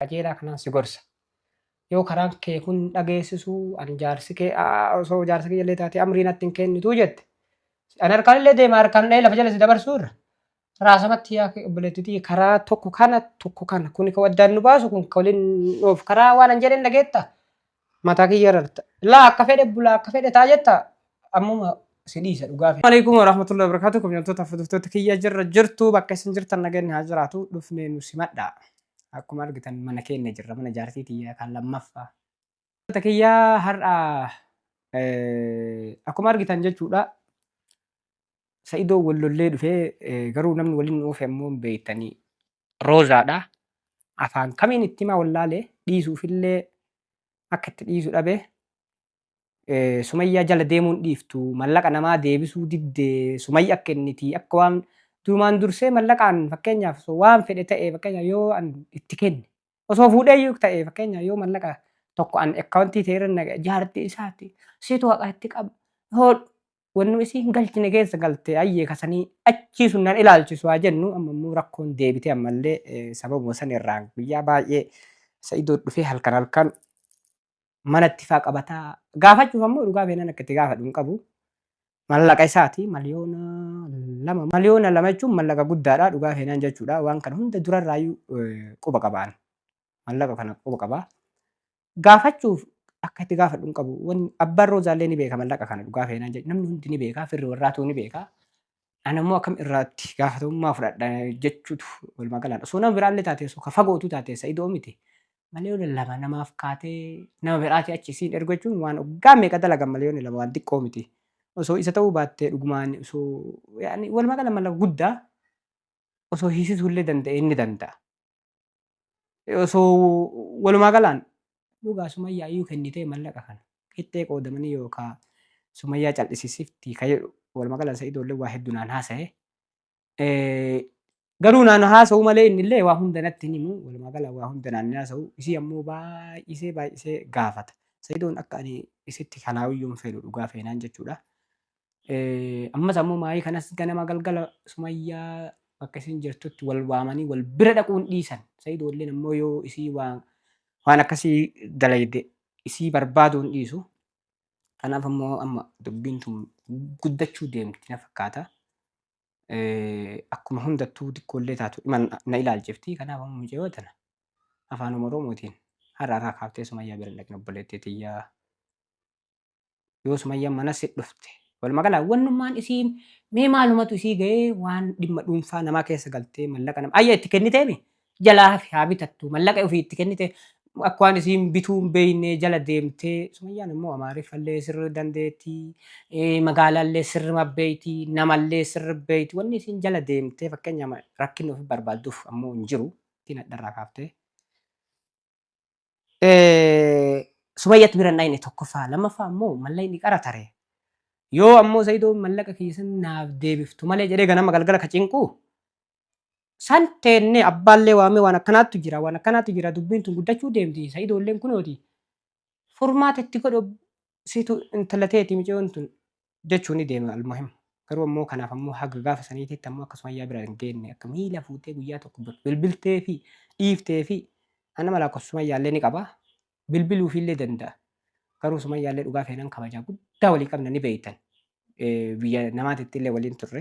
qajeelaa kanaan si gorsa. Yoo karaan kee kun hin dhageessisu, ani jaarsi kee osoo jaarsa kiyya illee taate amrii natti hin kennitu jette. Ani harkaan illee deema harkaan dhahee lafa jala si dabarsuu irra. Raasamatti yaa obboleettitii karaa tokko kana tokko kana kun kan waddaan nu baasu kun kan waliin nuuf karaa waan hin jedheen dhageetta. Mataa kiyya rarta. Laa akka fedhe bulaa akka fedhe taa jetta ammuma si dhiisa dhugaa fi. Alaikum warahmatullahi wabarakatuh kabjamtoota fuduftoota kiyya jirra jirtu bakka isin jirtan naganni haa jiraatu dhufnee nu simadha akkuma argitan mana keenya jirra mana jaartii tiyya kan lammaffa Fuduftoota kiyya har'a akkuma argitan jechuudha sa'idoo wallollee dhufee garuu namni waliin oofe ammoo beektanii roozaadha. Afaan kamiin itti himaa wallaalee dhiisuufillee akka itti dhiisu dhabe. Eh, Sumayyaa jala deemuun dhiiftu mallaqa namaa deebisuu didde sumayya akka inniti akka waan durumaan dursee mallaqaan fakkeenyaaf osoo waan fedhe ta'e fakkeenyaaf yoo an itti kenne osoo fuudhee iyyuu ta'e fakkeenyaaf yoo mallaqa tokko an akkaawuntii ta'e irra naqa jaartii isaati situ haqa itti qaba hoodhu wannu isii hin galchine keessa galte ayyee kasanii achii sun nan ilaalchisu haa jennu amma immoo rakkoon deebite ammallee eh, sababuma san irraan guyyaa baay'ee sa'idoo dhufee halkan halkan manatti faa qabataa gaafachuuf ammoo dhugaa beenan akka itti gaafadhu hin qabu mallaqa isaati miliyoona lama miliyoona lama jechuun mallaqa guddaadha dhugaa beenan jechuudha waan kana hunda durarraayyuu eh, quba qabaan mallaqa kana quba qabaa gaafachuuf akka itti gaafadhu hin qabu. Wanni abbaan roozaallee ni beeka mallaqa kana dhugaa feenaan jedhu namni hundi ni beeka firri warraatuu ni beeka. Ana immoo akkam irraatti gaafatamummaa fudhadha jechuutu walumaa galaan osoo nama biraallee taatee osoo ka fagootu taatee sa'idoo miti. Malee yoo lallaba namaaf kaatee nama biraatii achi isiin ergu jechuun waan oggaa meeqa dalagan malee yoo lallaba waan xiqqoo miti. Osoo isa ta'uu baattee dhugumaan osoo yaani walumaa gala mallaqa guddaa osoo hiisisuullee danda'ee ni danda'a. osoo walumaa galaan dhugaa sumayyaa iyyuu kennitee mallaqa kana qixxee qoodamanii yookaa sumayyaa cal'isisifti ka jedhu walumaa galaan sa'idoo illee waa hedduu naan haasa'e. Eh, Garuu naan haasa'u malee inni illee waa hunda natti hin himu walumaa galaan waa hunda naan haasa'u isii ammoo baay'isee baay'isee gaafata. Sa'idoon akka ani isitti kalaawiyyuu hin fedhu dhugaa feenaan jechuudha. Eh, Ammas ammoo maayii kanas ganama galgala sumayyaa bakka isin jirtutti wal waamanii wal bira dhaquun dhiisan. Sayidoolleen ammoo yoo isii waan waan akkasii dalayde isii barbaaduun dhiisu. Kanaaf ammoo amma dubbiin tun guddachuu deemti na fakkaata. Eh, Akkuma hundattuu xiqqoollee taatu dhima na na ilaalchifti. Kanaaf ammoo mucayyoo tana afaan Oromootiin har'a irraa kaaftee sumayyaa bira hin dhaqin obboleettii tiyyaa. yoo sumayyan mana si dhufte walumaa gala wannummaan isii mee maalumatu isii ga'ee waan dhimma dhuunfaa namaa keessa galtee mallaqa nama ayya itti kenniteemi jalaa hafi haa bitattu mallaqa ofii itti kennite akka waan isiin bituu hin beeynee jala deemtee sumayyaan immoo amaariffallee sirri dandeetti eh, magaalaallee sirri mabbeeyti namallee sirri beeyti wanni isiin jala deemtee fakkeenya rakkinni ofi barbaadduuf ammoo hin jiru ittiin hadharraa kaaftee Sumayyatti bira hin dhayne tokkoffaa lammaffaa ammoo mallayni qara tare yoo ammoo Zayidoo mallaqa keessan naaf deebiftu malee jedhee ganama galgala ka cinqu san teennee abbaallee waamee waan akkanaattu jira waan akkanaattu jira dubbiin tun guddachuu deemti Zayidoolleen kunooti furmaata itti godhu situ intala teeti micoon tun jechuu ni deema almuhim garuu ammoo kanaaf ammoo haga gaafa saniititti ammoo akka sumayyaa bira hin geenne akka miila fuutee guyyaa tokko bir- bilbiltee fi dhiiftee fi an nama lakkoofsa sumayyaallee ni qaba bilbiluufiillee danda'a garuu sumayyaallee dhugaa feenan kabajaa guddaa walii qabna ni beeytan Eh, biyya namaatitti illee waliin turre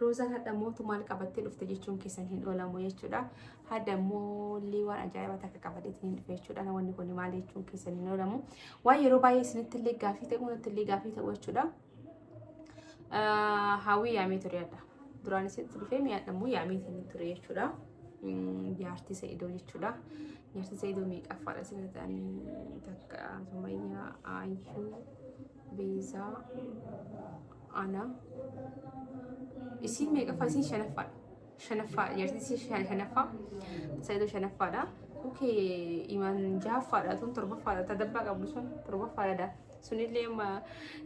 Roozaan hadha mootu maal qabattee dhufte jechuun keessan hin oolamu jechuudha. Hadha moollee waan ajaa'ibaa takka qabateetiin hin dhufe jechuudha. Namoonni kun maal jechuun keessan hin oolamu. Waan yeroo baay'ee isinitti illee gaafii ta'uu natti illee gaafii ta'uu jechuudha. Hawwii yaamee ture hadha. Duraan isinitti dhufee mi'aadha immoo yaamee isin ture jechuudha. Jaartii Sa'idoo jechuudha. Jaartii Sa'idoo meeqaffaadha isin ta'anii takka Sumayyaa Ayyuu Beezaa ana isiin meeqaffaa isiin shanaffaadha shanaffaa jartiin isiin shan- shanaffaa saayidoo shanaffaadha okay imaan jahaffaadha tun torbaffaadha tadabbaa qabdu sun torbaffaadha daa sunillee amma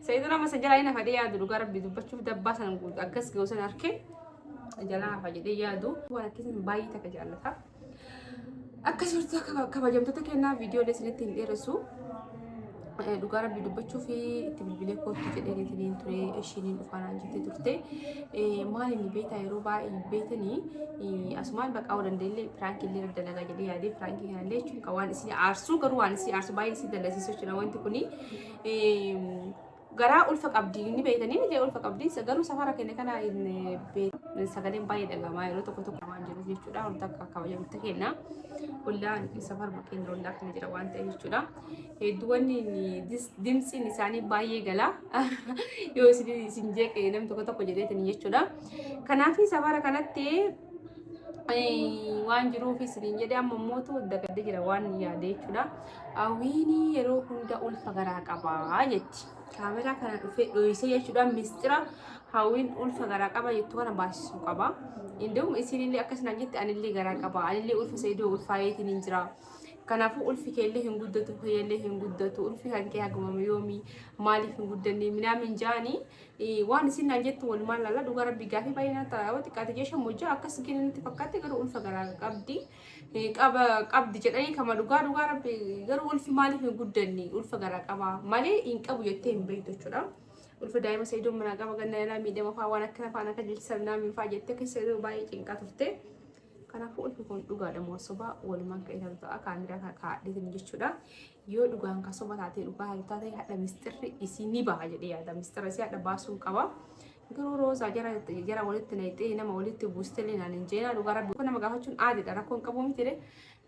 saayidoo nama san jalaa hin hafa jedhee yaadu dhugaa rabbi dubbachuuf dabbaa san guutu akkas ga'u san harkee jalaa hafa jedhee yaadu waan akkasiin baay'ee takka jaallata. Akka jirtu kabajamtoota kennaa viidiyoo isinitti hin dheeressu. Eh, dhugaa rabbii dubbachuu fi itti bilbilee kootti jedhee deetaniin ture ishiiniin dhufaanaan jettee turte eh, maal inni beektaa yeroo baay'ee beekanii eh, asumaan baqaa waan dandeenye piraankii illee irra dalagaa jedhee yaadee piraankii kana illee jechuun kan waan isin aarsuu garuu waan isin aarsuu baay'ee isin dalasiisuu jira wanti kuni garaa ulfa qabdi ni beektanii ni jee ulfa qabdi garuu safara keenya kana hin beekan sagaleen baay'ee dhagamaa yeroo tokko tokko waan jiruuf jechuudha wanta akka kabajamutti kenna ollaa safarma keenya ollaa kana jira waan ta'e jechuudha hedduuwwan dimtsiin isaanii baay'ee gala yoo isin isin jeeqe namni tokko tokko jedheetin jechuudha kanaaf safara kanatti waan jiruuf isiniin jedhe amma mootu dagadde jira waan yaade jechuudha. Awiini yeroo hunda ulfa garaa qaba jetti. Kaameraa kana dhufee dhoyisee jechuudhaan mistira hawwiin ulfa garaa qaba jettu kana baasisuu qaba. Indawum isiinillee akkas naan jette anillee garaa qaba. Anillee ulfa seedoo ulfaayeetiin hin jira. Kanaafuu ulfi keellee hin guddatu, keellee hin guddatu, ulfi kan kee hagumama yoomii maaliif hin guddanne minaamin jaanii waan isin naan jettu walumaan laala dhugaa rabbi gaafii baay'ee naan ta'a yoo xiqqaate jee shan mojjaa akkas gini natti fakkaatti garuu ulfa garaa qabdi. qaba qabdi jedhanii kama dhugaa dhugaa rabbi garuu ulfi maaliif hin guddanne ulfa garaa qaba malee hin qabu jettee hin beektu jechuudha. Ulfa daa'ima sayyidoo manaa qaba ganna irraa miidhama fa'aa waan akkana fa'aan akka jilchisan naamiin fa'aa jettee keessa yeroo baay'ee cinqaa turte. Kanaafuu ulfi kun dhugaadha moo sobaa walumaan kan ilaalu ta'a kaamiraa kan kaa'adheetiin jechuudha. Yoo dhugaan kan soba taatee dhugaa haatu taate hadha misxirri isii ni baha jedhee yaada. Misxirra isii hadha baasuu qaba. Garuu roozaa jara jara walitti nayxee nama walitti buustelee naan hin jeenaa dhugaa rabbi kun nama gaafachuun aadidha rakkoon qabuu mitire.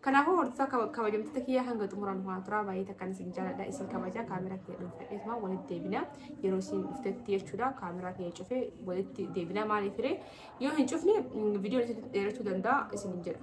Kanaafuu hordofaa kaba- kabajamtoota kiyyaa hanga xumuraan waan turaa baay'ee takkan isin jaaladha isin kabajaa kaameraa kiyya dhuunfadheetuma walitti deebina yeroo isin dhuftetti jechuudha kaameraa kiyya cufee walitti deebina maaliif hiree yoo hin cufne viidiyoon isin dheerachuu danda'a isin hin jedha.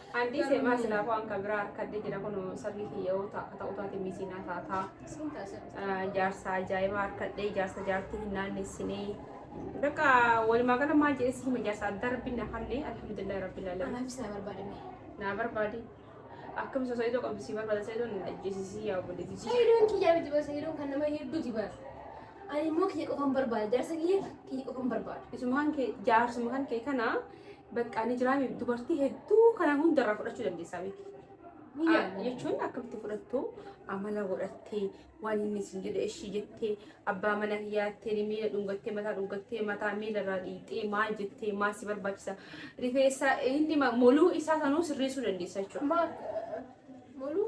Andii seemaa silaa waan kan biraa harkadde jira kun sarrii kiyya yoo ta'a ta'u taate miisiinaa taataa. Jaarsa ajaa'ibaa harkadhee jaarsa jaartii hin naannessinee. Bakka walumaa gala maal jedhee si hima jaarsa adda rabbiin na hallee alhamdulillah rabbil alamin. Anaafis na barbaadame. Naa barbaadi. Akkam isa sa'idoo qabdu si barbaada sa'idoo na ajjeesisii yaa obboleetti. Sayidoon kiyyaa miti bara sayidoon kan nama hedduu jibaa. Ani immoo kiyya qofan barbaada. Jaarsa kiyya kiyya qofan barbaada. Isumaan kee jaarsuma kan kee kana Baqqaa ni jiraame dubartii hedduu kanaan hundarraa fudhachuu dandeessaa beeki. Biyya jechuun akkamitti fudhattu amala godhattee waan inni isin jedhe ishii jettee abbaa mana hiyaattee miila dhungattee mataa dhungattee mataa miila irraa dhiixee maal jettee maal si barbaachisa rifeensa inni moluu isaa sanuu sirreessuu dandeessa jechuudha. Moluu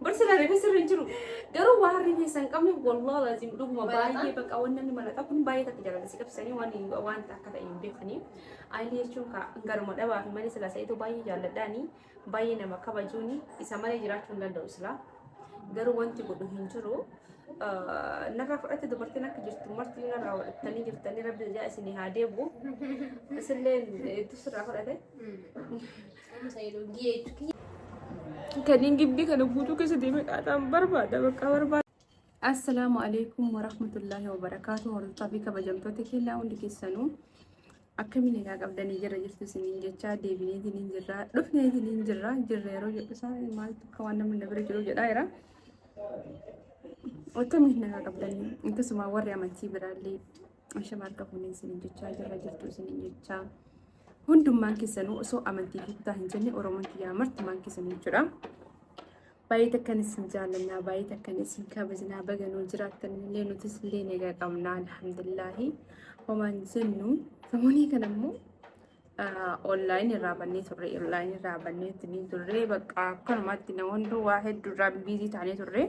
Bar sila reefa sirra hin jiru. Garuu waa harri keessa hin qabne wallah lazim dhuguma baay'ee bakka waan namni malataa kun baay'ee takka jaalata si qabsanii waan waan akka ta'e hin beekanii. Ayilii jechuun ka garuma dhabaa fi malee sila sa'ituu baay'ee jaalladhaanii baay'ee nama kabajuuni isa malee jiraachuu hin danda'u sila. Garuu wanti godhu hin jiru. Narraa fudhatte dubartiin akka jirtu marti narraa fudhattanii jirtanii rabbi ijaa isinii haa deebu. Isillee hedduu sirraa fudhate. Kaniin gibbii kana guutuu keessa deemee qaaxaan barbaada bakka barbaada. Assalaamu alaikum warahmatullaahi wabarakaatu hordofaa fi kabajamtoota keenyaa hundi keessanuu akkamiin egaa qabdanii jira jirtu isiniin jechaa deebinee isiniin jirra dhufnee isiniin jirra jirra yeroo jedhu isaa maaltu akka waan namni na bira jiru jedhaa jira. Akkamiin nagaa qabdanii akkasuma warri amantii biraallee shamarra fuunee isiniin jechaa jirra jirtu isiniin jechaa. Hundummaan keessanuu osoo amantii fi kutaa hin jenne Oromoon kiyyaa martumaan keessanuu jechuudha. Baay'ee takkan isin jaallannaa, baay'ee takkan isin kabajnaa, baganuu jiraattan illee nutis illee nagaa qabnaa alhamdulillaahi. Homaan jennu samunii kana immoo online irraa bannee turre, online irraa bannee itti turre, bakka akkanumatti namoonni waa hedduu irraa biizii taanee turre.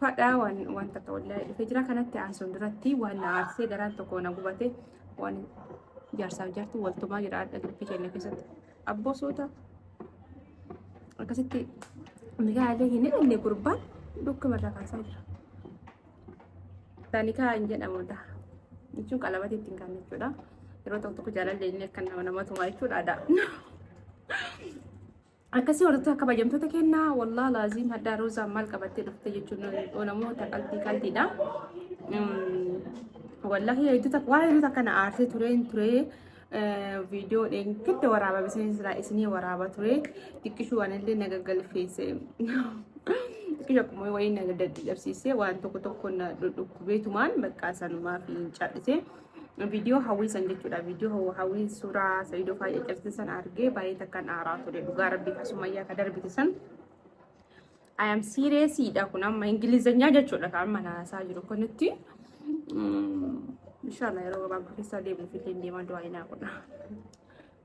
Fadhaa waan waan takka wallaahi dhufee jira kanatti aansuun duratti waan na aarsee garaan tokko na gubate waan jaarsaaf jartu waltumaa jira adda gibbii keenya keessatti abboo suuta akkasitti migaa illee hin hidhanne gurbaan dhukkuma irraa kaasaa jira. Taanikaa hin jedhamudha. Jechuun qalabati ittiin kan jechuudha. Yeroo tokko tokko jaalallee inni akka nama nama tumaa jechuudha aadaa. Akkasii warrattu akka bajamtoota kenna wallah laaziim hadhaa roozaan maal qabattee dhufte jechuun olamoo ta qalbii qalbiidha. Wallahi hedduu takka waan hedduu takka na aarsee tureen turee viidiyoo dheen gidda waraaba bisanii silaa isinii waraaba ture xiqqishuu waan illee na gaggalfeesse. Xiqqishu akkuma wayii na dadhabsiisee waan tokko tokko na dhudhukkubeetumaan bakka sanumaa fi hin cadhisee. viidiyoo hawwii san jechuudha viidiyoo hawwii suuraa sayyidoo faayya cabsite san argee baay'ee takkan aaraa ture dhugaa rabbii ka sumayyaa ka darbite san I am serious dha kun amma ingilizanyaa jechuudha kan amma naasaa jiru kunitti inshallah yeroo gabaabaa keessaa deemuuf illee deemaa du'aa inaa godha.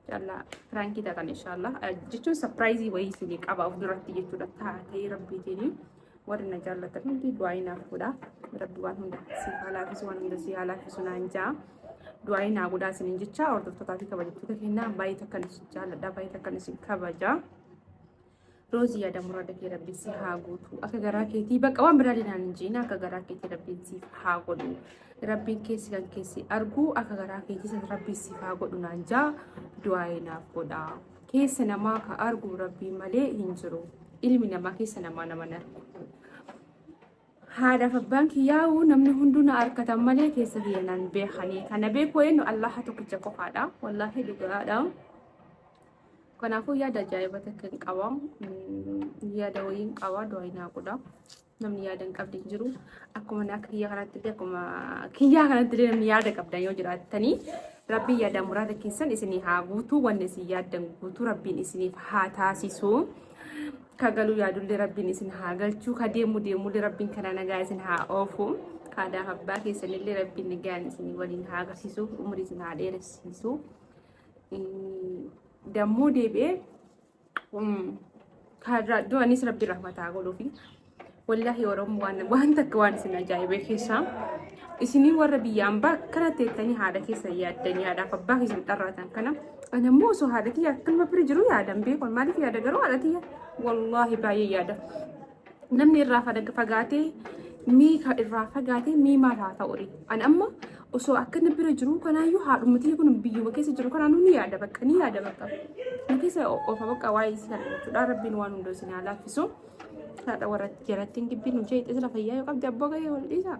Inshallah piraankii taatan inshallah jechuun sapiraayizii wayii isinii qaba of duratti jechuudha taatee rabbiitiin warri na jaallatan hundi du'aayi naaf godha rabbi waan hunda si haa laafisu waan hunda si haa laafisu naan jaa du'aayi naa godhaa isiniin jecha hordoftootaa fi kabajattoota kennaa baay'ee takkan isin jaalladha baay'ee takkan isin kabaja. Roozii yaada murada kee rabbi si haa guutu. Akka garaa keetii bakka waan biraa dinaan hin jiina akka garaa keetii rabbiin siif haa godhu. Rabbiin keessi kan keessi argu akka garaa keetii san rabbiin siif haa godhu naan jaa du'aa'ee naaf godha. Keessa namaa ka argu rabbiin malee hin jiru. Ilmi namaa keessa namaa nama hin argu. Haadhaaf abbaan kiyyaa'u namni hunduu na arkatan malee keessa kiyya naan beekanii. Kana beekuu eenyu Allaha tokkicha qofaadha. Wallaahi dhugaadha. Kanaafuu yaada ajaa'iba takka hin qaba. Yaada wayiin qaba du'aa hin haaqudha. Namni yaada hin qabne hin jiru. Akkuma akka kiyya kanatti illee akkuma kiyyaa kanatti illee namni yaada qabdan yoo jiraattanii rabbiin yaada muraada keessan isinii haa guutuu wanni isin yaaddan guutuu rabbiin isiniif haa taasisu. Ka galuu yaadullee rabbiin isin haa galchuu ka deemu deemullee rabbiin kana nagaa isin haa oofu. Haadhaa abbaa keessanillee rabbiin nagaan isin waliin haa agarsiisu umurii isin haa dheeressiisu. Dammoo deebi'ee kaarraa iddoo anis rabbi rahmataa godhuufi. Wallaahi Oromoo waan waan takka waan isin ajaa'ibee keessaa isinii warra biyya ambaa akkana teettanii haadha keessan yaaddanii haadhaaf abbaa keessan xarraatan kana ani ammoo osoo haadha kiyya akkanuma bira jiru yaadan beekon maaliif yaada garuu haadha kiyya wallaahi baay'ee yaada. namni irraa fada- fagaatee mii ka irraa fagaatee mii maal haa ta'u ree ani amma osoo akka inni bira jiru kanaayyuu haadhumatii kun biyyuma keessa jiru kanaanuu ni yaada bakka ni yaada bakka nu keessa o- ofa bakka waa'ee isii kana jechuudha rabbiin waan hunda isin haa laaffisu haadha warra jalatti hin dibbiin nu jeeqxee sila fayyaa yoo qabde abboo gahee wal dhiisaa